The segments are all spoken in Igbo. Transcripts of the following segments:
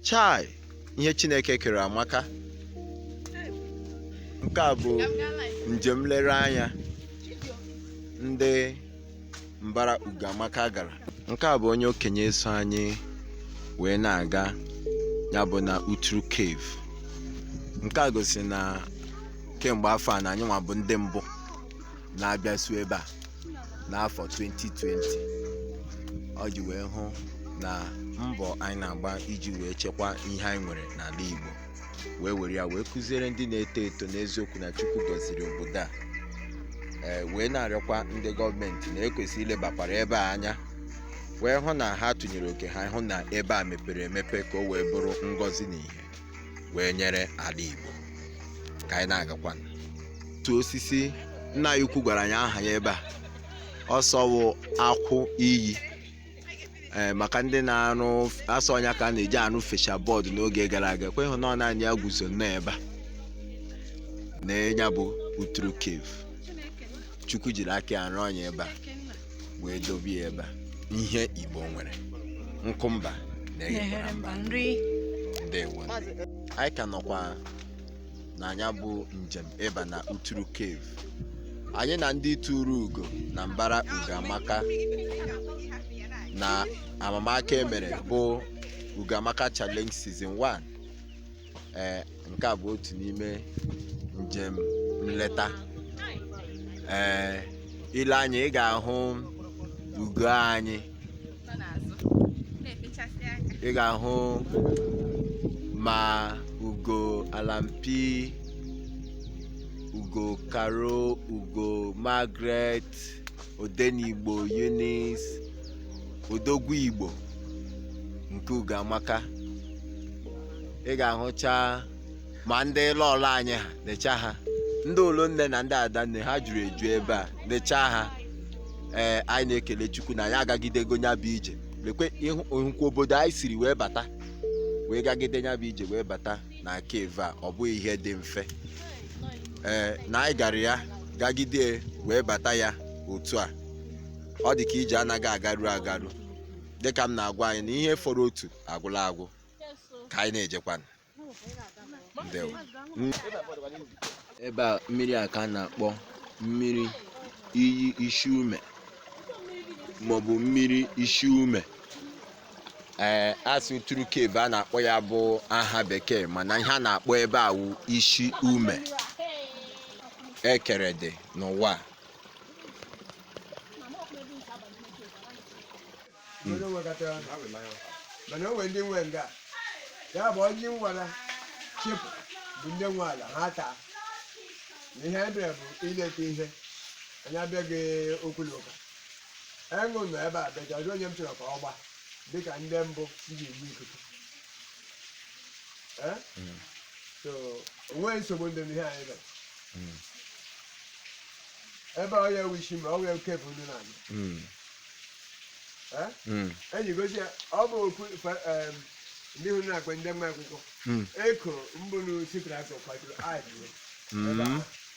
Chai! Ihe Chineke kere amaka. Nke a bụ njem nlereanya ndị mbara Ugoamaka gara. Nke a bụ onye okenye so anyị wee na-aga nya bụ na Uturu Cave. Nke a gosiri na kemgbe afọ a na anyị nwa bụ ndị mbụ na-abịasu ebe a n'afọ 2020 o ji wee hụ na mbọ anyị na-agba iji wee chekwa ihe anyị nwere n'ala Igbo wee were ya wee kụziere ndị na-eto eto n'eziokwu na Chukwu gọziri obodo a ee wee na-arịọkwa ndị gọọmenti na e kwesịrị ilebakwara ebe a anya wee hụ na ha tụnyere oke ha hụ na ebe a mepere emepe ka o wee bụrụ ngọzi na ihe wee nyere ala Igbo ka anyị na-agakwanụ otu osisi nna anyị ukwu gwara anyị aha ya ebe a ọ sị ọ wụ akwụ iyi ee maka ndị na-arụ asị ọ nya ka a na-eji arụ fascia board n'oge gara aga kwa ị hụ na ọ naanị ya guzo nnọọ ebe a na nya bụ uturu cave chukwu jiri aka ya rụọ nya ebe a wee dobe ya ebe a ihe igbo nwere nkụ mba na-eghekwara mba nri ndewo anyị ka nọkwa na nya bụ njem ịba na uturu cave anyị na ndị turu ugo na mbara ugoamaka na amamaka e mere bụ ugoamaka challenge season 1 ee nke a bụ otu n'ime njem nleta ee i lee anya ị ga-ahụ ugo anyị nọ n'azụ na-efechasị aka ị ga-ahụ ma ugo alampi ugo karo ugo margaret odenigbo eunice odogwu igbo nke ugoamaka ị ga-ahụcha ma ndị lọọlọ anyị ha lecha ha ndị ulunne na ndị adanne ha juru eju ebe a lecha ha ee anyị na-ekele chukwu na anyị agagidego nya bụ ije lekwe ị hụ- ị hụkwa obodo anyị siri wee bata wee gagide nya bụ ije wee bata na cave a ọ bụghị ihe dị mfe ee na anyị gara ya gagide wee bata ya otu a ọ dị ka ije anaghị agaru agaru dịka m na-agwa anyị na ihe fọrọ otu agwụla agwụ ka anyị na-ejekwanụ ndewo ebe a mmiri a ka a na-akpọ mmiri iyi isi ume maọbụ mmiri isi ume ee a sị Uturu cave a na-akpọ ya bụ aha bekee mana ihe a na-akpọ ebe a wụ isi ume ekere dị n'ụwa onye nwekọtara mana o nwere ndị nwe nga ya bụ onye nwara chịpụ bụ ndị nwe ala ha taa na ihe anyị bịara bụ ileta ihe anyị abịaghị okwu na ụka Aṅụ nọ ebe a bịaja ọjọọ onye m chọrọ ka ọ gba dịka ndị mbụ m ji enye ikuku Eh? Mm. so o nweghị nsogbu dị n'ihe anyị mere Mm. ebe ọ ya ewu isi ma ọ wee oke bụ ndị na-anyị Mm. Eh? Mm. enyi gosi ya ọ bụ okwu fa- em, ndị hụrụ na-akpa ndị mma akwụkwọ Mm. eko mbụ na sitrasị kwadoro adịghị Mm.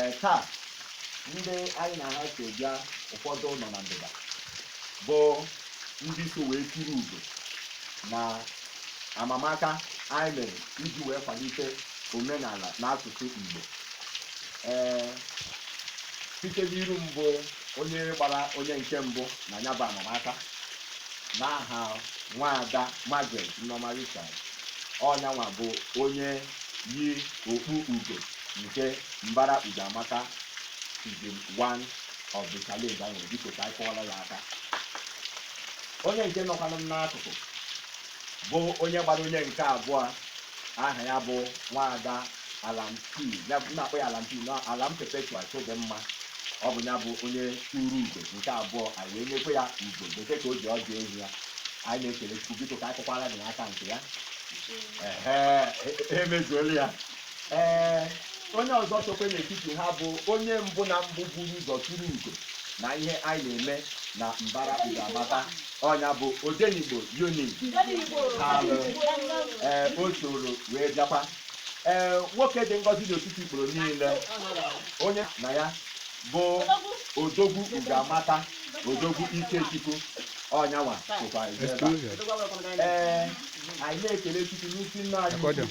ee taa ndị anyị na ha so bịa ụfọdụ nọ na ndịda bụ ndị so wee turu ugo na amamaka anyị mere iji wee kwalite omenala na asụsụ Igbo ee site n'iru mbụ onye gbara onye nke mbụ na ya bụ amamaka n'aha nwaada Margaret Nneoma Richard ọ nyanwa bụ onye yi okpu ugo nke mbara Ugoamaka season 1 of the challenge anyị nwere biko ka anyị kụọrọ ya aka onye nke nọkwanụ m n'akụkụ bụ onye gbara onye nke abụọ aha ya bụ nwaada alam p ya bụ a na-akpọ ya alam p na alam perpetual chidimma ọ bụ ya bụ onye turu ugo nke abụọ anyị wee nyekwe ya ugo bekee ka o ji ọdụ ehi ya anyị na-ekele chukwu biko ka anyị kụkwara ya aka nke ya ehe emezuola ya ee onye ọzọ sokwe n'etiti ha bụ onye mbụ na mbụ buru ụzọ turu ugo na ihe anyị na-eme na mbara Ugoamaka ọ nya bụ odenigbo yoni alụ ee o soro wee bịakwa ee nwoke dị ngọzi n'etiti ikporo niile onye na ya bụ odogwu Ugoamaka odogwu ikechukwu ọ nyanwa sokwa ebe a. ee anyị na-ekele chukwu n'isi nna anyị ukwu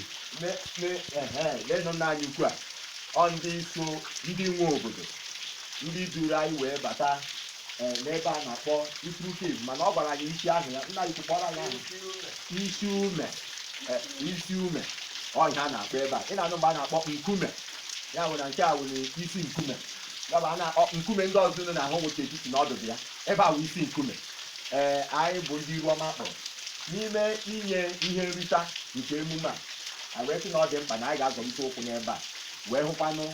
lenụ nna anyị ukwu a ọ ndị so ndị nwe obodo ndị duru anyị wee bata eh, n'ebe a na-akpọ Uturu Cave mana ọ gwara anyị isi aha ya nna ukwu kpọrọ anyị aha isi ume eh, isi ume ọ ihe a na-akpọ ebe a ị na-anụ mgbe a na-akpọ nkume ya wụ na nke a wụrụ isi nkume ya bụ a na-akpọ nkume ndị ọzọ unu na-ahụ wụcha etiti na ọdụdụ ya ebe a wụ isi nkume ee anyị bụ ndị iru ọma kpọrọ n'ime inye ihe nrita nke emume a anyị wee sị na ọ dị mkpa na anyị ga-azọlite ụkwụ n'ebe a wee hụkwanụ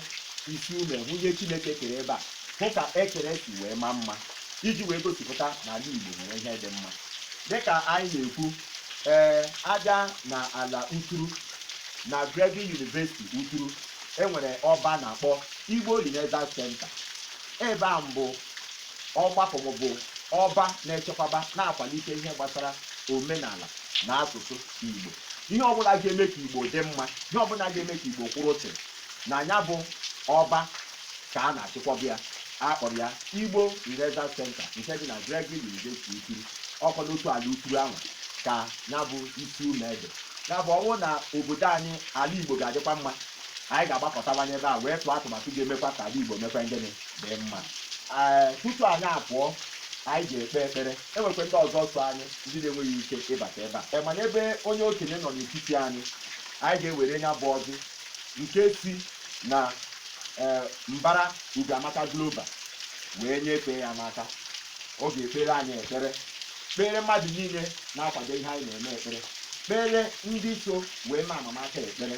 Isi Ume hụ ihe chineke kere ebe a hụ ka ekere si wee maa mma iji wee gosipụta na ala igbo nwere ihe dị mma dịka anyị na-ekwu ee Abịa na ala uturu na Gregory University Uturu e nwere ọba a na-akpọ Igbo Renaissance Center ebe a bụ ọgbakọ maọbụ ọba na-echekwaba, na-akwalite ihe gbasara omenala na asụsụ Igbo. Ihe ọbụla ga-eme ka Igbo dị mma, ihe ọbụla ga-eme ka Igbo kwụrụ chịm, na ya bụ ọba ka a na-achịkwọba ya. A kpọrọ ya Igbo Renaissance Centre nke dị na Gregory University Uturu. Ọ kwa n'otu ala Uturu anwa ka ya bụ Isi Ume dị. Ya bụ, ọ bụrụ na obodo anyị, ala Igbo ga-adịkwa mma, Anyị ga-agbakọtawanye ebe a wee tụọ atụmatụ ga-emekwa ka ala Igbo mekwaa gịnị? Dị mma. Ee, tutu anyị apụọ, anyị ga-ekpe ekpere. E nwekwa ndị ọzọ so anyị, ndị na-enweghị ike ịbata ebe a. E, mana ebe onye okenye nọ n'etiti anyị, anyị ga-ewere ya bụ ọjị nke si na e, mbara Ugoamaka Global wee nyefee ya n'aka. Ọ ga-ekpere anyị ekpere, kpeere mmadụ niile na-akwado ihe anyị na-eme ekpere, kpeere ndị so wee mee amamaka ekpere.